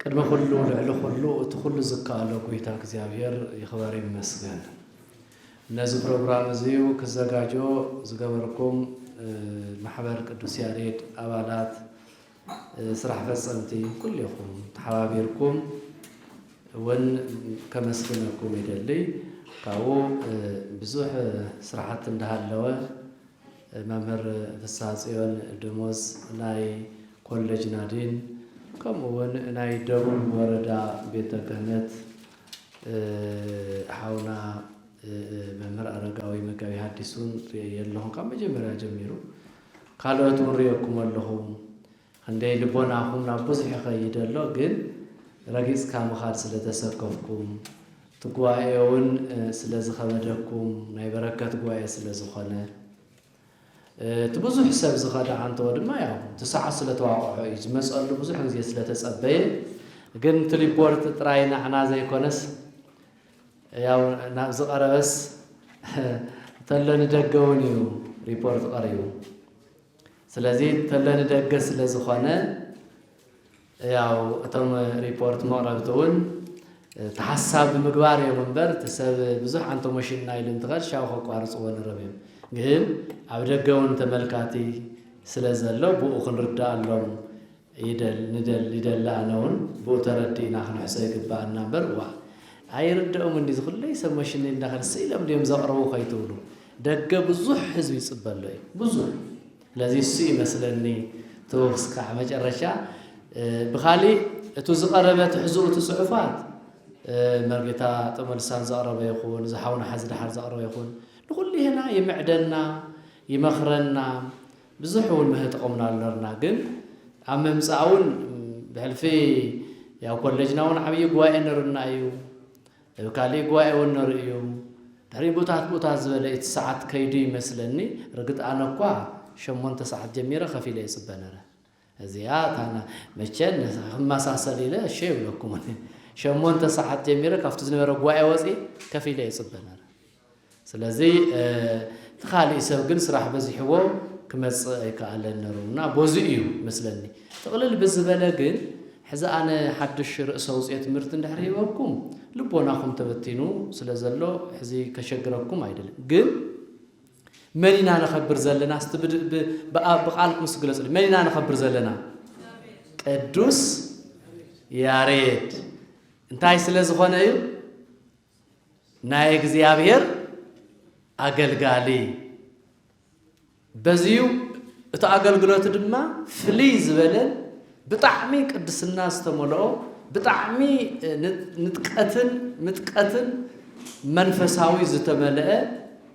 ቅድሚ ኩሉ ልዕሊ ኩሉ እቲ ኩሉ ዝከኣሎ ጎይታ እግዚኣብሔር ይክበር ይመስገን ነዚ ፕሮግራም እዙይ ክዘጋጆ ዝገበርኩም ማሕበር ቅዱስ ያሬድ ኣባላት ስራሕ ፈፀምቲ ኩሌኹም ተሓባቢርኩም እውን ከመስግነኩም ይደልይ ካብኡ ብዙሕ ስራሕቲ እንዳሃለወ መምህር ፍስሃጽዮን ደሞዝ ናይ ኮለጅ ናዲን ከምኡ ውን ናይ ደቡብ ወረዳ ቤተ ክህነት ሓውና መምህር ኣረጋዊ መጋቢ ሃዲስ ውን ርእየዮ ኣለኹ ካብ መጀመርያ ጀሚሩ ካልኦት ውን ርእየኩም ኣለኹ ኽንደይ ልቦናኹም ናብ ብዙሕ ይኸይድ ኣሎ ግን ረጊጽካ ምኻድ ስለ ተሰከፍኩም እቲ ጉባኤ ውን ስለ ዝኸበደኩም ናይ በረከት ጉባኤ ስለ ዝኾነ እቲ ብዙሕ ሰብ ዝኸደ ኣንተወ ድማ ያው እቲ ሰዓት ስለ ተዋቕዖ እዩ ዝመጸሉ ብዙሕ ግዜ ስለ ተጸበየ ግን እቲ ሪፖርት ጥራይ ናዕና ዘይኮነስ ያው ናብ ዝቐረበስ ተሎ ንደገ ውን እዩ ሪፖርት ቐሪቡ። ስለዚ ተለ ንደገ ስለዝኾነ ያው እቶም ሪፖርት መቕረብቲ እውን ተሓሳብ ብምግባር እዮም እምበር እቲ ሰብ ብዙሕ ኣንቶሞሽን እና ኢሉ እንትኸድ ሻው ከቋርፅዎ ንረብ እዮም ግን ኣብ ደገ እውን ተመልካቲ ስለዘሎ ብኡ ክንርዳኣሎም ይደል ንደል ይደል ኣነ ውን ብኡ ተረዲእና ክንሕሶ ይግበኣና እምበር ዋእ ኣይርደኦምን ድዩ እዚ ኩለይ ሰብ መሽነይ እንዳከል ስቅ ኢሎም ድዮም ዘቅርቡ ከይትብሉ ደገ ብዙሕ ህዝቢ ይጽበ ኣሎ እዩ ብዙሕ ስለዚ እሱ እዩ መስለኒ ተወስካዕ መጨረሻ ብካሊእ እቱ ዝቀረበ ትሕዝኡ እቲ ጽሑፋት መርጌታ ጠመልሳን ዘቅረበ ይኹን እዚ ሓውና ሓዚ ድሓር ዘቅረበ ይኹን ንኩሉ ይህና ይምዕደና ይመክረና ብዙሕ እውን መህጥቕምና ኣሎርና ግን ኣብ ምምጻእውን ብሕልፊ ያው ኮለጅና እውን ዓብዪ ጉባኤ ነርና እዩ እብ ካሊእ ጉባኤ እውን ነሩ እዩ ድሕሪ ቡታት ቡታት ዝበለ እቲ ሰዓት ከይዱ ይመስለኒ ርግጥ ኣነ እኳ ሸሞንተ ሰዓት ጀሚረ ከፊለ ይጽበ ነረ እዚኣ ካና መቸን ነዛ ክመሳሰል ኢለ እሺ ኣይብለኩምን። ሸሞንተ ሰዓት ጀሚረ ካብቲ ዝነበረ ጉባኤ ወጺእ ከፍ ኢለ ይጽበ ነረ። ስለዚ እቲ ካሊእ ሰብ ግን ስራሕ በዚሕዎ ክመጽእ ኣይከኣለን ነሩ እና ቦዚ እዩ መስለኒ። ጥቕልል ብዝበለ ግን ሕዚ ኣነ ሓድሽ ርእሰ ውጽኤ ትምህርቲ እንድሕር ሂበኩም ልቦናኹም ተበቲኑ ስለ ዘሎ ሕዚ ከሸግረኩም ኣይደልን ግን መን ኢና ነኸብር ዘለና እስቲ ብቃልኩም እስቲ ግለጹልኝ መን ኢና ነኸብር ዘለና ቅዱስ ያሬድ እንታይ ስለ ዝኾነ እዩ ናይ እግዚኣብሔር ኣገልጋሊ በዚዩ እቲ ኣገልግሎት ድማ ፍልይ ዝበለ ብጣዕሚ ቅድስና ዝተመልኦ ብጣዕሚ ንጥቀትን ምጥቀትን መንፈሳዊ ዝተመልአ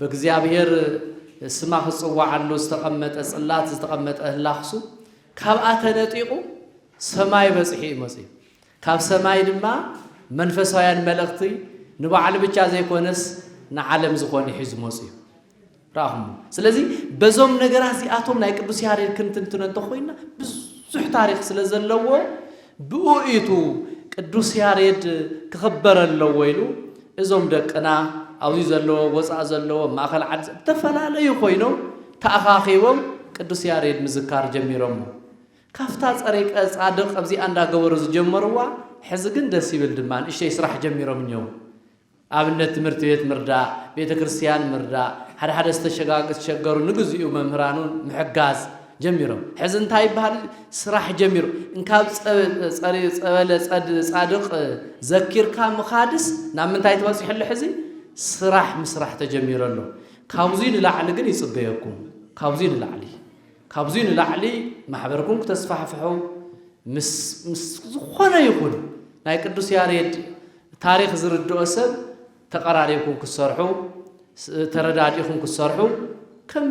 በእግዚኣብሔር ስማ ክጽዋዓሉ ዝተቐመጠ ጽላት ዝተቐመጠ ህላክሱ ካብኣ ተነጢቑ ሰማይ በጺሑ እዩ መጺኡ። ካብ ሰማይ ድማ መንፈሳውያን መልእኽቲ ንባዕሉ ብቻ ዘይኮነስ ንዓለም ዝኾነ ሒዙ መጺኡ። ራኹሞ ስለዚ በዞም ነገራት እዚኣቶም ናይ ቅዱስ ያሬድ ክንትንትነ እንተኾይና ብዙሕ ታሪክ ስለ ዘለዎ ብእኡ እዩቱ ቅዱስ ያሬድ ክኽበር ኣለዎ ኢሉ እዞም ደቅና ኣብዚ ዘለዎ ወፃእ ዘለዎ ማእኸል ዓዲ ዝተፈላለዩ ኮይኖም ተኣኻኺቦም ቅዱስ ያሬድ ምዝካር ጀሚሮሞ ካፍታ ፀሪቀ ፃድቅ ኣብዚኣ እንዳገበሩ ዝጀመርዋ ሕዚ ግን ደስ ይብል ድማ ንእሽተይ ስራሕ ጀሚሮም እኒው ኣብነት ትምህርቲ ቤት ምርዳእ፣ ቤተ ክርስትያን ምርዳእ፣ ሓደ ሓደ ዝተሸገሩ ንግዚኡ መምህራኑን ምሕጋዝ ጀሚሮም። ሕዚ እንታይ ይበሃል ስራሕ ጀሚሩ። እንካብ ጸበለ ጻድቕ ዘኪርካ ምኻድስ ናብ ምንታይ ተበጺሑ ኣሎ ሕዚ ስራሕ ምስራሕ ተጀሚሩ ኣሎ። ካብዙይ ንላዕሊ ግን ይጽበየኩም። ካብዙይ ንላዕሊ ካብዙይ ንላዕሊ ማሕበርኩም ክተስፋሕፍሑ ምስ ዝኾነ ይኹን ናይ ቅዱስ ያሬድ ታሪኽ ዝርድኦ ሰብ ተቐራሪብኩም ክትሰርሑ፣ ተረዳዲእኹም ክትሰርሑ ከም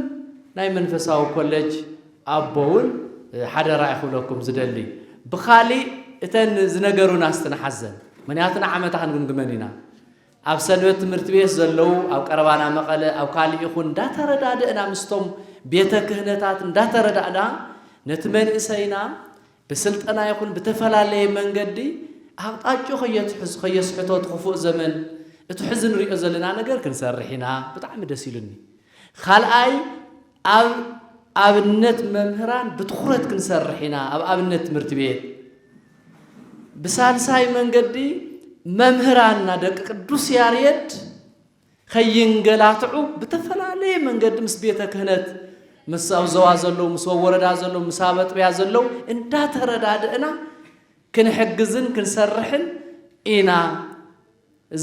ናይ መንፈሳዊ ኮለጅ ኣቦ እውን ሓደራ እየ ክብለኩም ዝደሊ። ብኻሊእ እተን ዝነገሩና እስቲ ንሓዘን ምኽንያቱ ንዓመታ ክንግምግመን ኢና። ኣብ ሰንበት ትምህርቲ ቤት ዘለዉ ኣብ ቀረባና መቐለ ኣብ ካሊእ ይኹን እንዳተረዳደእና ምስቶም ቤተ ክህነታት እንዳተረዳእና ነቲ መንእሰይና ብስልጠና ይኹን ብተፈላለየ መንገዲ ኣቕጣጭኡ ከየትሕዝ ከየስሕቶ እቲ ክፉእ ዘመን እቲ ሕዚ ንሪኦ ዘለና ነገር ክንሰርሕ ኢና ብጣዕሚ ደስ ኢሉኒ። ካልኣይ ኣብ ኣብነት መምህራን ብትኹረት ክንሰርሕ ኢና ኣብ ኣብነት ትምህርቲ ቤት ብሳልሳይ መንገዲ መምህራንና ደቂ ቅዱስ ያሬድ ከይንገላትዑ ብተፈላለየ መንገዲ ምስ ቤተ ክህነት ምስ ኣብ ዘዋ ዘለዉ ምስ ወወረዳ ዘለዉ ምስ ኣብ ኣጥቢያ ዘለዉ እንዳተረዳድእና ክንሕግዝን ክንሰርሕን ኢና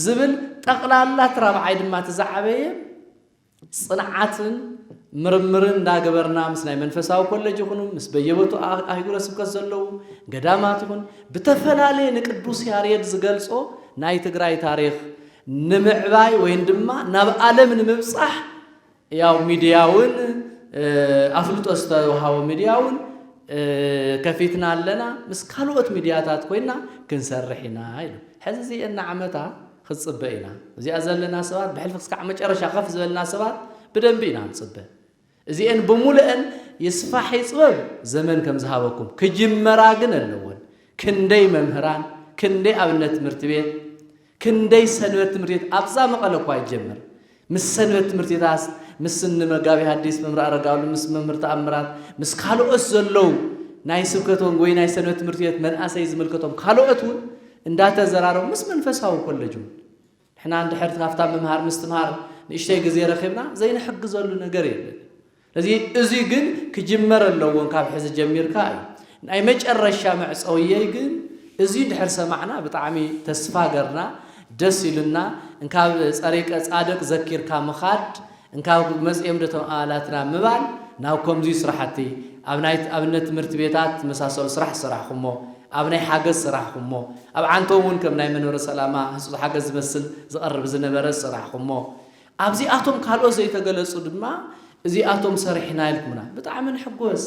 ዝብል ጠቕላላ እቲ ራብዓይ ድማ እቲ ዝዓበየ ፅንዓትን ምርምርን እንዳገበርና ምስ ናይ መንፈሳዊ ኮለጅ ይኹኑ ምስ በየበቱ ኣህጉረ ስብከት ዘለዉ ገዳማት ይኹን ብተፈላለየ ንቅዱስ ያሬድ ዝገልፆ ናይ ትግራይ ታሪክ ንምዕባይ ወይን ድማ ናብ ኣለም ንምብጻሕ ያው ሚድያውን ኣፍልጦ ዝተውሃቦ ሚድያውን ከፊትና ኣለና ምስ ካልኦት ሚድያታት ኮይና ክንሰርሕ ኢና ኢሉ ሕዚ እዚኤና ዓመታ ክትጽበ ኢና እዚኣ ዘለና ሰባት ብሕልፊ ክስካዕ መጨረሻ ከፍ ዝበልና ሰባት ብደንቢ ኢና ንጽበ እዚኤን ብሙሉኤን ይስፋሕ ይፅበብ ዘመን ከም ዝሃበኩም ክጅመራ ግን ኣለወን ክንደይ መምህራን ክንደይ ኣብነት ትምህርቲ ቤት ክንደይ ሰንበት ትምህርቲ ቤት ኣብዛ መቐለ እኳ ይጀመር ምስ ሰንበት ትምህርቲ ቤታስ ምስ ንመጋቢ ሐዲስ መምህር ኣረጋሉ ምስ መምህር ተኣምራት ምስ ካልኦት ዘለው ናይ ስብከት ወንጌል ወይ ናይ ሰንበት ትምህርቲ ቤት መንእሰይ ዝምልከቶም ካልኦት እውን እንዳተዘራረቡ ምስ መንፈሳዊ ኮለጅ እውን ንሕና እንድሕር ካብታ ምምሃር ምስትምሃር ንእሽተይ ግዜ ረኺብና ዘይንሕግዘሉ ነገር የለን። ስለዚ እዚ ግን ክጅመር ኣለዎን ካብ ሕዚ ጀሚርካ እዩ። ናይ መጨረሻ መዕጸውየይ ግን እዚ እንድሕር ሰማዕና ብጣዕሚ ተስፋ ገርና ደስ ኢሉና እንካብ ጸሪቀ ጻድቅ ዘኪርካ ምኻድ እንካብ ጉድ መፅእም ደቶም ኣባላትና ምባል ናብ ከምዙይ ስራሕቲ ኣብ ናይ ኣብነት ትምህርቲ ቤታት ዝመሳሰሉ ስራሕ ዝሰራሕኹሞ ኣብ ናይ ሓገዝ ዝሰራሕኹሞ ኣብ ዓንተው ውን ከም ናይ መንበረ ሰላማ ህፁፅ ሓገዝ ዝመስል ዝቐርብ ዝነበረ ዝሰራሕኹሞ ኣብዚኣቶም ካልኦት ዘይተገለፁ ድማ እዚኣቶም ሰሪሕና ኢልኩምና ብጣዕሚ ንሕጎስ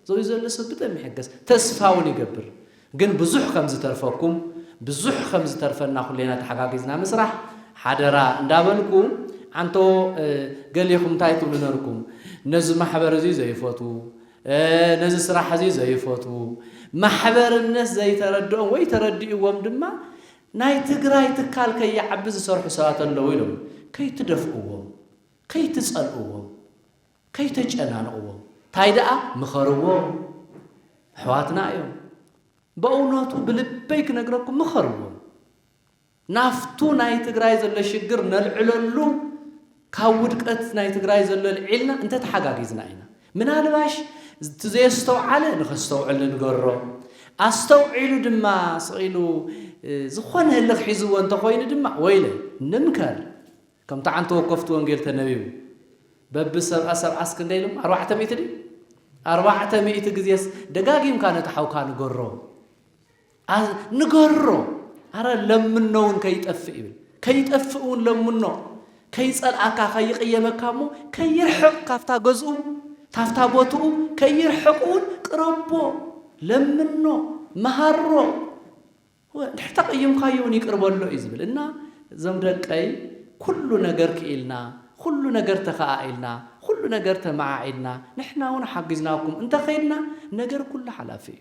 ዘብዩ ዘሎ ሰብ ብደም ይሕገስ ተስፋ ውን ይገብር ግን ብዙሕ ከም ዝተርፈኩም ብዙሕ ከም ዝተርፈና ኩሌና ተሓጋጊዝና ምስራሕ ሓደራ እንዳበልኩ ዓንቶ ገሌኹም ታይ ትብሉ ነርኩም ነዚ ማሕበር እዙይ ዘይፈትዉ ነዚ ስራሕ እዙይ ዘይፈትዉ ማሕበርነት ዘይተረድኦም ወይ ተረዲእዎም ድማ ናይ ትግራይ ትካል ከይዓቢ ዝሰርሑ ሰባት ኣለዉ ኢሎም ከይትደፍእዎም ከይትፀልእዎም ከይተጨናንቕዎ ታይ ደኣ ምኸርዎም ኣሕዋትና እዮም በእውነቱ ብልበይ ክነግረኩም ምኸርዎም ናፍቱ ናይ ትግራይ ዘሎ ሽግር ነልዕለሉ ካብ ውድቀት ናይ ትግራይ ዘሎ ልዒልና እንተተሓጋጊዝና ኢና ምናልባሽ እቲ ዘየስተውዓለ ንኸስተውዕል ንገሮ ኣስተውዒሉ ድማ ስቕ ኢሉ ዝኾነ ህልኽ ሒዝዎ እንተኾይኑ ድማ ወይለ ንምከር ከም ጣዕን ተወከፍቲ ወንጌል ተነቢቡ በቢ ሰብኣ ሰብዓስ ክንደይ ኢሎም ኣርባዕተ ሚእቲ ድዩ ኣርባዕተ ሚእቲ ግዜስ ደጋጊምካ ነቲ ሓውካ ንገሮ ንገሮ ኣረ ለምኖ እውን ከይጠፍእ ይብል ከይጠፍእ እውን ለምኖ ከይጸልኣካ ከይቕየመካ እሞ ከይርሕቕ ካብታ ገዝኡ ካብታ ቦትኡ ከይርሕቕ እውን ቅረቦ ለምኖ መሃሮ እንድሕር ተቐይምካዮ ውን ይቅር በሎ እዩ ዝብል እና እዞም ደቀይ ኩሉ ነገር ክኢልና ኹሉ ነገር ተኸኣኢልና ኹሉ ነገር ተመዓዒድና ንሕና ውን ሓጊዝናኩም እንተኸይድና ነገር ኩሉ ሓላፊ እዩ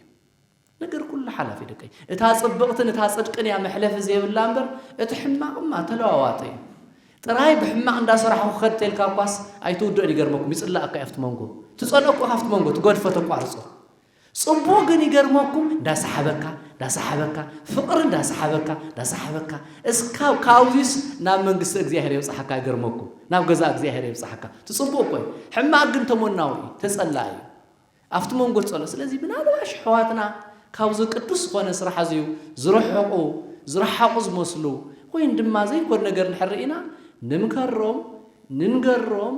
ነገር ኩሉ ሓላፊ ደቀይ እታ ጽብቕትን እታ ጽድቅን እያ መሕለፊ ዘይብላ እምበር እቲ ሕማቕማ ተለዋዋጠ እዩ ጥራይ ብሕማቕ እንዳሰራሕኹ ክኸድ ተልካ እኳስ ኣይትውድኦን ይገርመኩም ይጽላኣካ እዩ ኣብቲ መንጎ ትጸልኦ እኳ ካብቲ መንጎ ትገድፎ ተቋርጾ ጽቡቅ ግን ይገርመኩም እንዳሳሓበካ እንዳሳሓበካ ፍቅሪ እንዳሳሓበካ እንዳሳሓበካ እስካብ ካብዚስ ናብ መንግስተ እግዚኣብሔር የብጽሓካ ይገርመኩም ናብ ገዛ እግዚኣብሔር የብጽሓካ እቲ ጽቡቅ እኮ እዩ ሕማቅ ግን ተሞናዊ እዩ ተጸላኢ እዩ ኣብቲ መንጎ ጸሎ ስለዚ ምናልባት ኣሕዋትና ካብዚ ቅዱስ ዝኾነ ስራሕ እዚዩ ዝርሕቁ ዝረሓቁ ዝመስሉ ወይን ድማ ዘይኮን ነገር እንድሕር ርኢና ንምከሮም ንንገሮም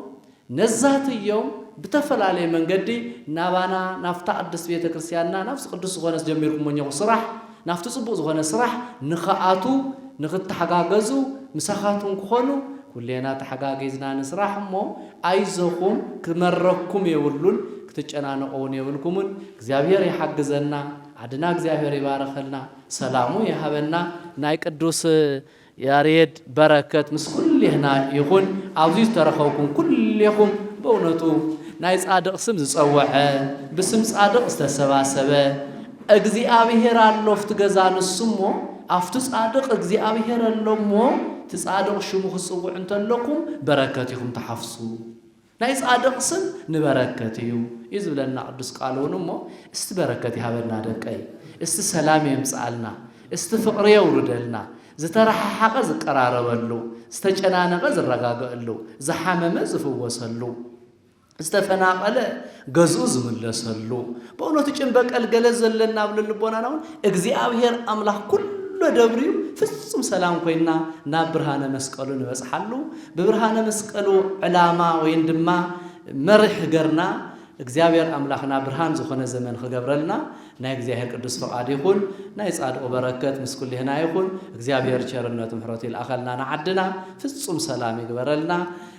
ነዛትዮም ብተፈላለየ መንገዲ ናባና ናብታ ቅድስት ቤተ ክርስቲያንና ናብዚ ቅዱስ ዝኾነስ ጀሚርኩሞ እኘኹ ስራሕ ናብቲ ጽቡቅ ዝኾነ ስራሕ ንኽኣትዉ ንኽተሓጋገዙ ምሳኻትኩም ክኾኑ ኩሌና ተሓጋጊዝና ንስራሕ እሞ ኣይዞኹም ክመረኩም የብሉን ክትጨናነቁ ውን የብልኩምን እግዚኣብሔር ይሓግዘና ዓድና እግዚኣብሔር ይባርኸልና ሰላሙ ይሃበና ናይ ቅዱስ ያሬድ በረከት ምስ ኩሌህና ይኹን ኣብዚ ዝተረኸብኩም ኩሌኹም በእውነቱ ናይ ጻድቅ ስም ዝጸወዐ ብስም ጻድቅ ዝተሰባሰበ እግዚኣብሔር ኣሎ ኣብቲ ገዛ ንሱ እሞ ኣብቲ ጻድቅ እግዚኣብሔር ኣሎ እሞ እቲ ጻድቅ ሽሙ ክትጽውዑ እንተለኩም በረከት ኢኹም ትሓፍሱ ናይ ጻድቕ ስም ንበረከት እዩ እዩ ዝብለና ቅዱስ ቃሉ ውን እሞ እስቲ በረከት ይሃበና ደቀይ እስቲ ሰላም የምጽኣልና እስቲ ፍቅሪ የውርደልና ዝተራሓሓቀ ዝቀራረበሉ ዝተጨናነቀ ዝረጋገእሉ ዝሓመመ ዝፍወሰሉ ዝተፈናቀለ ገዝኡ ዝምለሰሉ በእውነቱ ጭን በቀል ገለ ዘለና ኣብ ልልቦናና ውን እግዚኣብሔር ኣምላክ ኩሎ ደብርዩ ፍጹም ሰላም ኮይና ናብ ብርሃነ መስቀሉ ንበጽሓሉ ብብርሃነ መስቀሉ ዕላማ ወይን ድማ መርሕ ገርና እግዚኣብሔር ኣምላክና ብርሃን ዝኾነ ዘመን ክገብረልና ናይ እግዚኣብሔር ቅዱስ ፍቃድ ይኹን ናይ ጻድቁ በረከት ምስ ኩሌህና ይኹን እግዚኣብሔር ቸርነቱ ምሕረቱ ይልኣኸልና ንዓድና ፍጹም ሰላም ይግበረልና